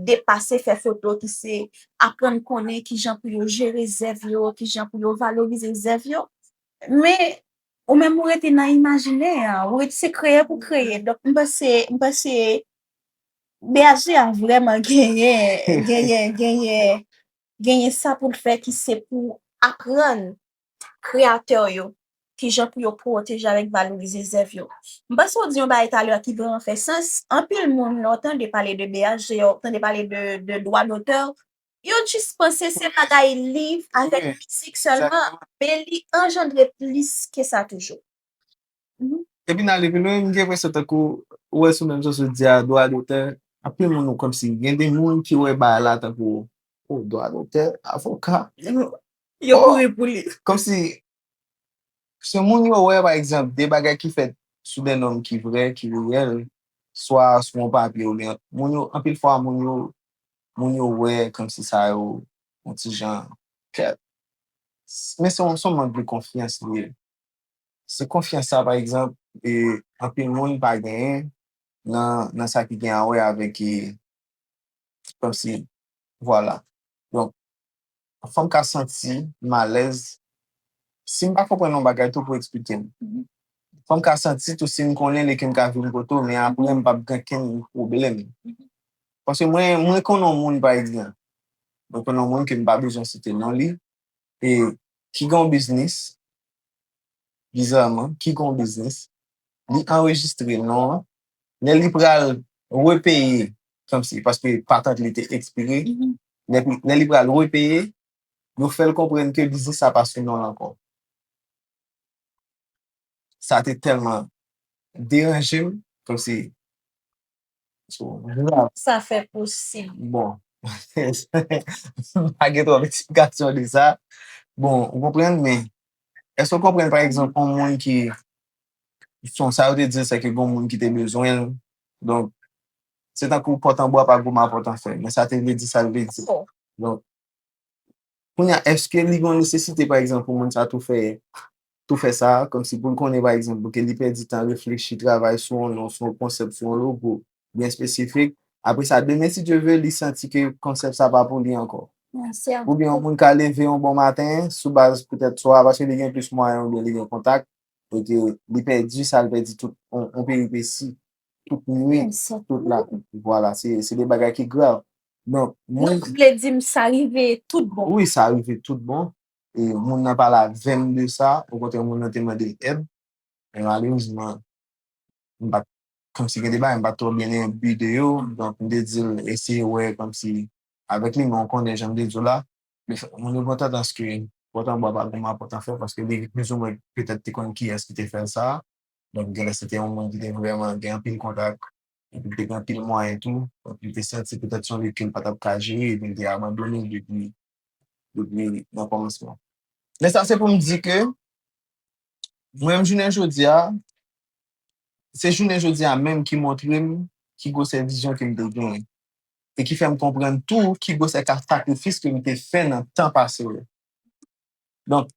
depase fè foto ki se aprann konnen ki jan pou yo jere zèv yo, ki jan pou yo valorize zèv yo. Men, ou menm ou rete nan imajinè an, ou rete se kreye pou kreye. Donk, m panse, m panse BHD a vrèman genyen, genyen, genyen, genyen sa pou l fè ki se pou aprann. kreyatè yo, kijan pou yo pwoteje avèk valorize zèv yo. M panse ou di yon bagay talè a ki vrèman fè sans, anpil moun lè w tande pale de BHZ, w tande pale de dwa dotè, yo jis panse se bagay liv avèk mizik sèlman, men li anjandre plis ke sa toujou. Depi nan ale pi lwen, m gen enpresyon tankou ou wè sou menm jan sou di a, dwa dotè, anpil moun ou kòmsi gen de moun ki wè bagay la tankou o dwa dotè, avoka. Yo kouri pou li. Kòmsi se moun yo wè pa egzanp de bagay ki fèt sou de nòm ki vrè, ki reyèl, swa sou yon papye oubyen moun yo anpil fwa moun yo moun yo wè kòmsi sa yo yon ti jan kèt men se yon mank de konfyans li ye. Se konfyans sa pa egzanp anpil moun pa genyen nan sa ki gen a wè avèk kòmsi vwala donk fòm ka santi malèz sim pa konprann yon bagay tou pou eksplikem fòm ka santi tou sim konnen li kem ka vin kote w men aprè m pap gen kenn pwoblèm paske mwen konnen yon moun pa egzanp mwen konnen yon moun kem pa bezwen site non li. e ki gen yon biznis, bizaman, ki gen yon biznis, li anrejistre non an, lè li pral repeye, kòmsi, paske patant li te ekspire, lè li pral repeye, yo fè l konprann ke biznis sa pa sou non l ankò. Sa te tèlman deranje m, kòmsi. Kòman sa fè posib? Bon, m pa gen twòp eksplikasyon de sa. Bon, ou konprann, men, èske ou konprann, pa egzanp, yon moun ki, selon sa yo te di, sèke gen yon moun ki te bezwen l, donk, se tankou pòt anbo a pa goumen a pòt anfè, men sa te vle di sa l vle di. Donk. Kounye a, èske li gen yon nesesite, pa egzanp, pou moun sa a tou fè, tou fè sa a, kòmsi pou l konnen, pa egzanp, pou ke li pèdi tan reflechi, travay sou yon non, sou yon konsèp, sou yon logo byen espesifik, apre sa, demen si Dye ve, li santi ke konsèp sa a pa pou li ankò? Oubyen yon moun ka leve yon bon maten, sou baz petèt swa, paske li gen plis mwayen oubyen li gen kontak, e ke li pèdi sa, li pèdi tout yon peripesi tout nwit, tout la nuit. Vwala, se de bagay ki grav. Donk, mwen. Donk, ou vle di m sa rive tout bon. Wi, sa rive tout bon. E moun nan pale avè m de sa. Okontrè, moun nan te mande m èd. Men malerezman, m pa t. Kòmsi gen de bagay m pa t twò byen enbi de yo. Donk, m te di l eseye wè kòmsi avèk li. Men ou konnen jan m te di w la. Moun yo gen yon tandans ke pòt anba pa gen mapòt anfè paske li plizoumwen petèt te konn kiyès ki te fè l sa. Donk genlè se te yon moun ki te vrèman gen anpil kontak epi li te gen anpil mwayen tou. Donk li te santi petèt se yon lit ke li pa t ap ka jere epi li te abandone depi depi nan kòmansman. Men sa se pou m di ke mwen menm jounen jodi a, se jounen jodi a menm ki montre m ki gwosè vizyon ke m te genyen e ki fè m konprann tou ki gwosè ka sakrifis ke m te fè nan tan pase yo. Donk.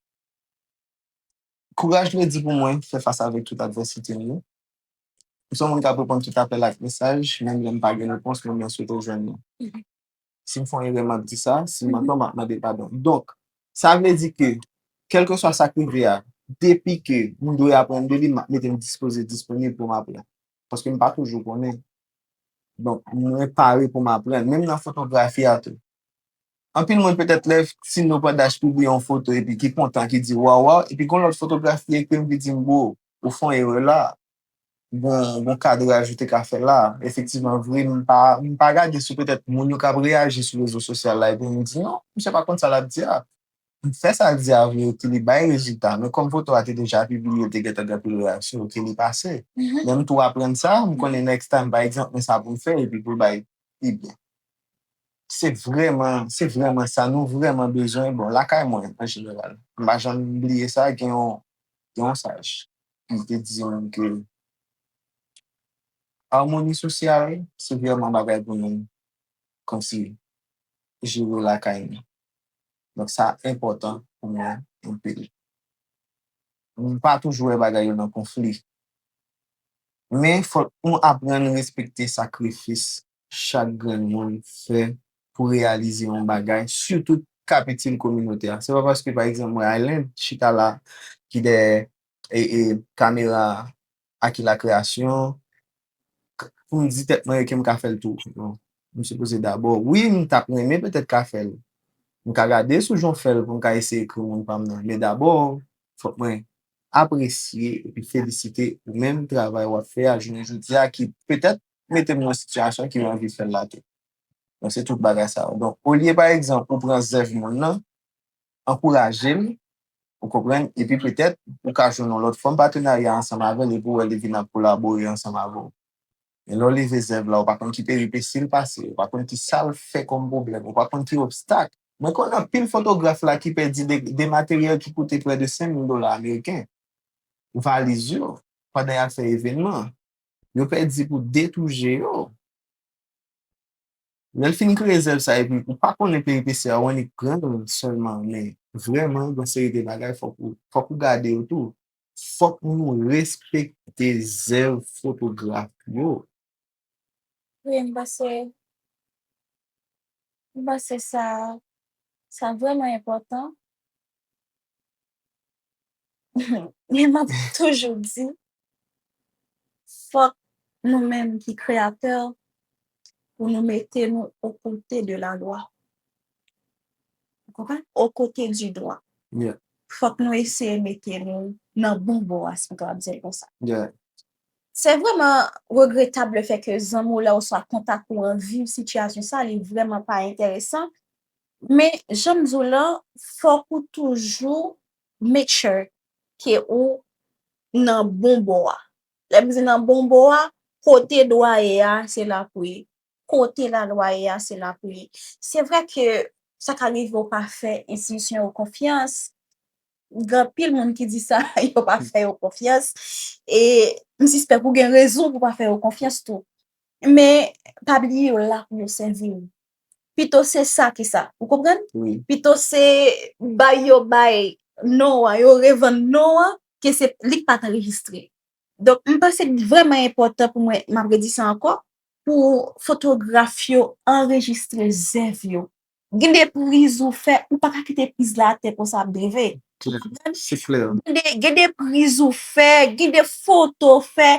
Kouraj vle di pou mwen fè fas avèk tout advèsite m yo. M se yon moun k ap reponn tout apèl ak mesaj, menm lè m pa gen repons men mwen swete jwenn yo. Si m fè yon erè m ap di sa, si m an tò m ap mande padon. Donk, sa vle di ke kèlkeswa sa k rive a, depi ke m dwe aprann de li, m ap mete m dispoze, disponib pou m aprann. Paske m pa toujou konnen. Donk, mwen pare pou m aprann. Menm nan fotografi a tou, Anpil moun petèt lè Tino Pandash pibliye yon foto epi ki kontan ki di waw waw epi gon lòt fotograf ki ekri m ki di m bro ou fè yon erè la gon kadraj ou te ka fè la efektivman vre m pa gade sou petèt moun yo k ap reyaji sou rezo sosyal la epi m di non misye pa konn sa l ap di a m fè sa l di a vre epi li bay rezilta men kòm foto a te deja pibliye l te gentan gen anpil reyaksyon ok li pase men m tou aprann sa m konnen next time pa egzanp men sa pou m fè epi pou l bay pi byen. Se vrèman, se vrèman sa nou vrèman bezwen. Bon, lakay mwen, an jeneral, m pa janm bliye sa, gen yon, gen yon saj ki te di m ke amoni sosyal se vrèman bagay pou nou kòmsi jere lakay nou. Donk sa enpòtan pou mwen anpil. M pa toujou wè bagay yo nan konfli. Men fòk nou aprann respekte sakrifis chak grenn moun fè pou reyalize yon bagay, sitou k ap itil kominote a. Se pa paske pa egzanp mwen Aylen chita la ki dèyè kamera a a ki lakreyasyon k pou m di tèt mwen èke m ka fè l tou non m sipoze dabò wi m t ap renmen petèt ka fè l m ka gade sou jan w fè l pou m ka eseye ekri moun pa m nan men dabò fòk mwen apresye epi felisite ou menm travay w ap fè a jounen jodi a ki petèt mete m nan sitiyasyon ki m anvi fè l la tou donk se tout bagay sa yo donk olye pa egzanp ou pran zèv moun nan. ankouraje l, ou konprann, epi petèt ou ka jwenn yon lòt fòm patenarya ansanm avè l epi w wè li vin ap kolabore ansanm avè w. Men lè w leve zèv la, ou pa konn ki peripesi l pase, ou pa konn ki sa l fè kòm pwoblèm, ou pa konn ki obstak. Mwen konn anpil fotograf la ki pèdi de materyèl ki koute prè de 5,000 dola ameriken, valiz yo, pandan y ap fè evènman. Yo pèdi pou de tou je yo. Lèl fin kreye zèv sa epi ou pa konnen peripesi a ou annik pranl sèlman men vrèman gon seri de bagay fòk ou fòk ou gade yo tou fòk nou respekte zèv fotograf yo. Wi m panse m panse sa sa vrèman enpòtan Men map toujou di fòk nou menm ki kreyatè pou nou mete nou o kote de la lwa ou konprann o kote di dwa fòk nou eseye mete nou nan bon bò a si m kapab di l konsa se vrèman regretab le fè ke zanmi w la oswa kontak ou an viv sitiyasyon sa li vrèman pa enteresan Men janm di w lan fok ou toujou make sure ke ou nan bon bò a. Lè m di nan bon bò a, kote dwa ye a se la pou ye. Kote la lwa ye a se la pou ye. Se vre ke sa ka rive ou pa fè enstitisyon yo konfyans, gen anpil moun ki di sa yo pa fè yo konfyans e m sispèk ou gen rezon pou pa fè yo konfyans tou. Men pa bliye yo la pou yo sèvi w. pito se sa ki sa. Ou konprann? Wi. Pito se bay yo bay non an, yo revann non an ke se li ki pa t anrejistre. Donk, m panse li vrèman enpòtan pou mwen, m ap redi sa ankò, pou fotograf yo anrejistre zèv yo. Gen de priz ou fè, ou pa ka kite priz la atè konsa ap drive. Ou konprann? Se klè. Gen de priz ou fè, gen de foto ou fè,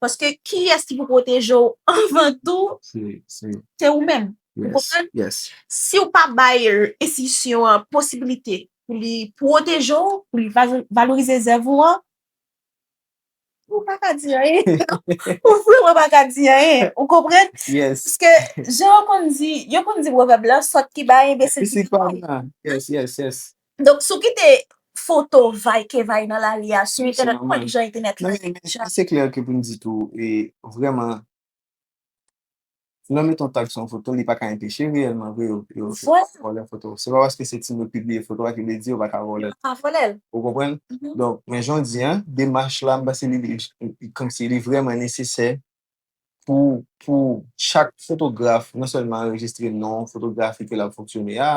Paske kiyès ki pou pwoteje w anvan tou, se ou menm. Ou konprann? Si ou pa bay enstitisyon an posibilite pou li pwoteje w, pou li valorize zèv ou an, ou pa ka di anyen. Ou vrèman pa ka di anyen. Ou konprann? Paske, jan yo konn di, yo konn di pwovèb la, sòt ki bay, enbesil ki pwoteje. Yes, yes, yes. Donk si w kite foto w vay ke vay nan lari a sou entènèt ou konnen jan entènèt la ye deja. Men se klè ke pou n di tou e vrèman lè w mete yon tag sou yon foto li pa ka enpeche reyèlman vre yo vòlè foto w. Se pa paske se ti moun yo pibliye foto a ki vle di yo pa ka vòlè l. Yo pa ka vòlè l. Ou konprann? Donk men jan w di an demach la m panse li kòmsi li vrèman nesesè pou pou chak fotograf non sèlman anrejistre non fotografi ke l ap fonksyone a,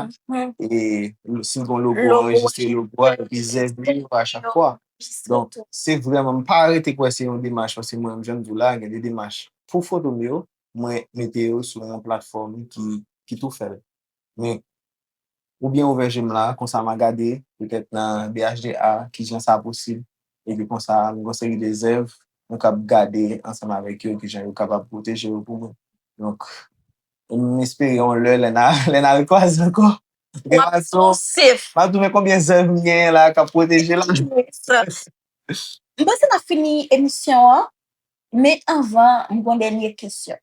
e si l gen logo anrejistre logo a epi zèv li yo a chak fwa. Donk se vrèman m pa rete kwè se yon demach paske mwen menm jan m di w la gen de demach pou foto m yo mwen mete yo sou yon platfòm ki tou fè l men Ou byen ouvè je m la, konsa ma gade, petèt nan BHDA, kijan sa posib, epi konsa m gon seri de zèv nou kab gade ansanm avèk yo kijan yo kapab pwoteje yo pou mwen. Donk, m espere yon lè, lè na, lè na rekwaze ankò, Frè Watson, m ap twouve konbyen zèv m genyen la kap pwoteje la. M panse n ap fini emisyon an. Men anvan, m gon dènye kesyon.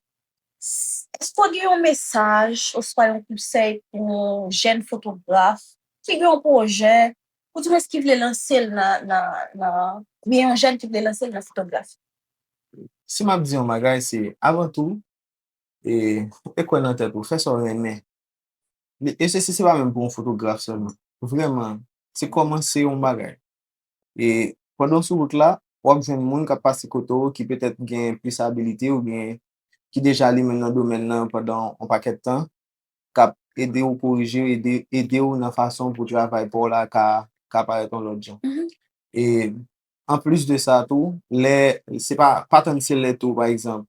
Èske w gen yon mesaj oswa yon konsèy pou yon jèn fotograf ki gen yon pwojè ou di mwen ki vle lanse l nan nan oubyen yon jèn ki vle lanse l nan fotografi? Si m ap di yon bagay se avan tou e e kwè nan tèt ou, fè sa w renmen. E se se pa menm pou yon fotograf sèlman. Vrèman se kòmanse yon bagay. E pandan w sou wout la, w ap jwenn moun k ap pase kote w ki petèt gen plis abilite oubyen ki deja limen nan domèn lan pandan yon pakèt tan, k ap ede w korije, ede w nan fason pou travay pa w la ka parèt yon lòt jan. E anplis de sa tou, lè, se pa, pa tann se lè tou, pa egzanp,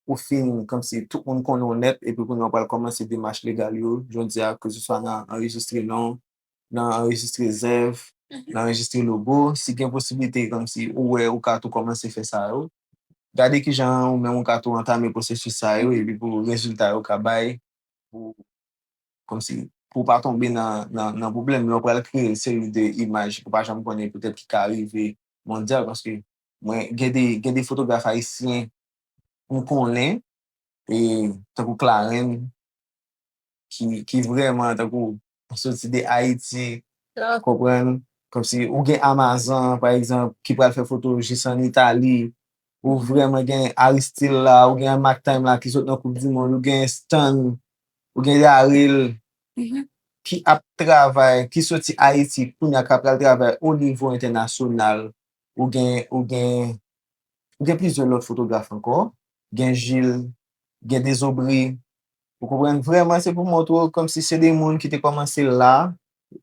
ou fin kòmsi tout moun konnen w nèt epi kounye a w pral kòmanse demach legal yo, jodi a, keseswa nan anrejistre non, nan anrejistre zèv, nan anrejistre logo, si gen posiblite kòmsi ou wè ou ka tou kòmanse fè sa yo, gade kijan ou menm ou ka tou antame pwosesis sa yo epi pou rezilta yo ka bay pou kòmsi pou w pa tonbe nan pwoblèm lè w pral kreye yon seri de imaj ou pa janm konnen petèt ki ka rive mondyal paske mwen gen de fotograf ayisyen m konnen tankou Clarens. ki vrèman tankou ou soti de Ayiti, konprann? Kòmsi ou gen Amazan, pa egzanp, ki pral fè foto jis an Itali, ou vrèman gen Aristil la, ou gen Mack Time la ki sot nan koup di mond, ou gen Stan, ou gen Yaril, ki ap travay, ki soti Ayiti, kounye a ka pral travay o nivo entènasyonal, ou gen, ou gen, ou gen plizyè lòt fotograf ankò, gen Jil, gen dezobri, ou konprann, vrèman se pou montre w kòm si se de moun ki te kòmanse la,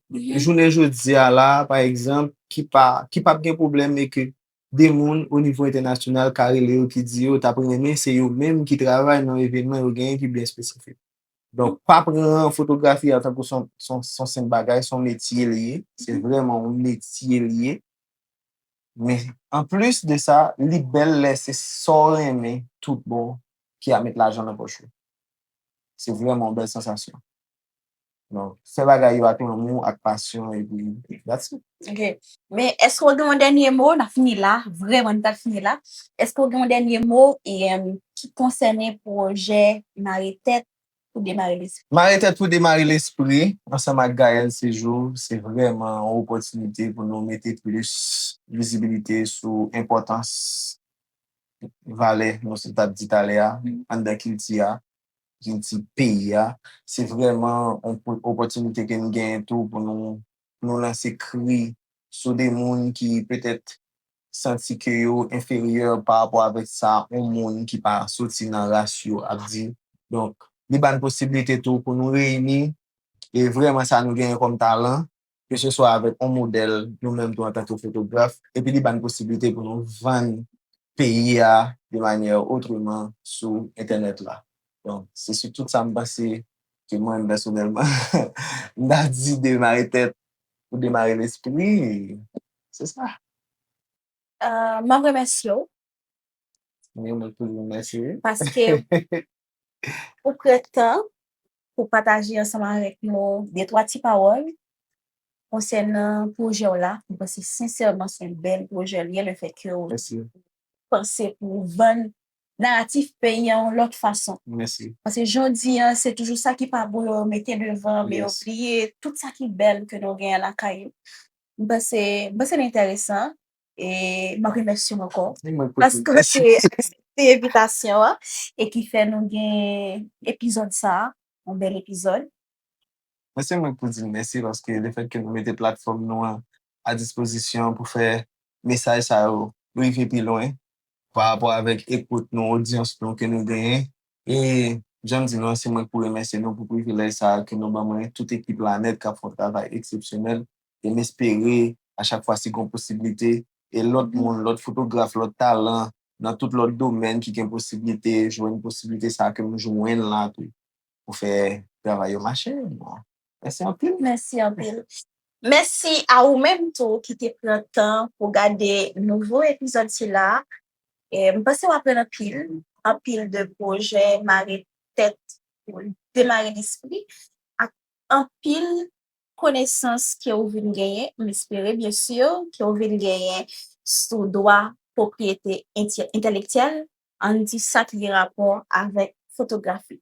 jounen jodi a la, pa egzanp, ki pa, ki pap gen pwoblèm e ke de moun o nivo entènasyonal ka rele yo ki di yo t ap renmen se yo menm ki travay nan evènman yo genyen ki byen espesifik. Donk, pa pran fotografi a tankou s on senp bagay, s on metye li ye, se vrèman yon metye li ye. Men anplis de sa li bèl lè se sa w renmen tout bon ki ap met lajan nan pòch ou. Se vrèman yon bèl sansasyon. Donk fè bagay yo ak lanmou, ak pasyon epi that's it. Ok. Men èske w gen yon dènye mo? N ap fini la, vrèman nou pral fini la. Èske w gen yon dènye mo ki konsène pwojè Mare Tèt pou demare lespri. Mare tèt pou demare lespri ansanm ak Gaëlle Séjour se vrèman yon opòtinite pou nou mete plis vizibilite sou enpòtans valè nou te tap di talè a anndan kilti a, kilti peyi a. Se vrèman yon opòtinite ke nou genyen tou pou nou lanse kri sou de moun ki petèt santi ke yo enferyè pa rapò avèk sa yon moun ki pa soti nan ras yo ap di. Donk, li ba n posiblite tou pou nou reyini e vrèman sa nou genyen kòm talan, keseswa avèk yon modèl nou menm tou antanke fotograf, epi li ba n posiblite pou nou vann peyi a de manyè otreman sou entènèt la. Donk, se sou tout sa m panse ke mwen, pèsonèlman, m ta di de mare tèt Pou demare lespri. Se sa. M ap remèsye w. Mwen menm tou mwen remèsye w. Paske ou pran tan pou pataje ansanm avèk nou de twa ti pawòl konsènan pwojè w la. Mwen panse sensèman se yon bèl pwojè l ye lefètke w panse pou vann naratif peyi an yon lòt fason. Mèsi. Paske jodi an se toujou sa ki pa bon yo mete devan men yo bliye tout sa ki bèl ke nou genyen lakay yo. M panse m panse l enteresan e m ap remèsye w ankò paske w te aksepte envitasyon an e ki fè nou gen epizòd sa a, yon bèl epizòd. Mwen se mwen k pou di n mèsi paske le fèt ke nou mete platfòm nou an a dispozisyon pou fè mesaj sa yo rive pi lwen pa rapò avèk ekout nou, odyans nou ke nou genyen. E jan m di nou an, se mwen k pou remèsye nou pou privilèj sa a ke nou ban mwen, tout ekip la nèt k ap fè yon travay eksepsyonèl. E m espere a chak fwa si gon posiblite, e lòt moun, lòt fotograf, lòt talan nan tout lòt domèn ki gen posiblite jwenn posiblite sa a ke m jwenn la tou pou fè travay yo mache. Mèsi anpil. Mèsi anpil. Mèsi a ou menm tou ki te pran tan pou gade nouvo epizòd sila. M panse w aprann anpil, anpil de pwojè mare tèt pou demare lespri ak anpil konesans ke ou vin genyen, m espere byensi, ke ou vin genyen sou dwa pwopriyete entèlektyèl Ann di sa ki gen rapò avèk fotografi.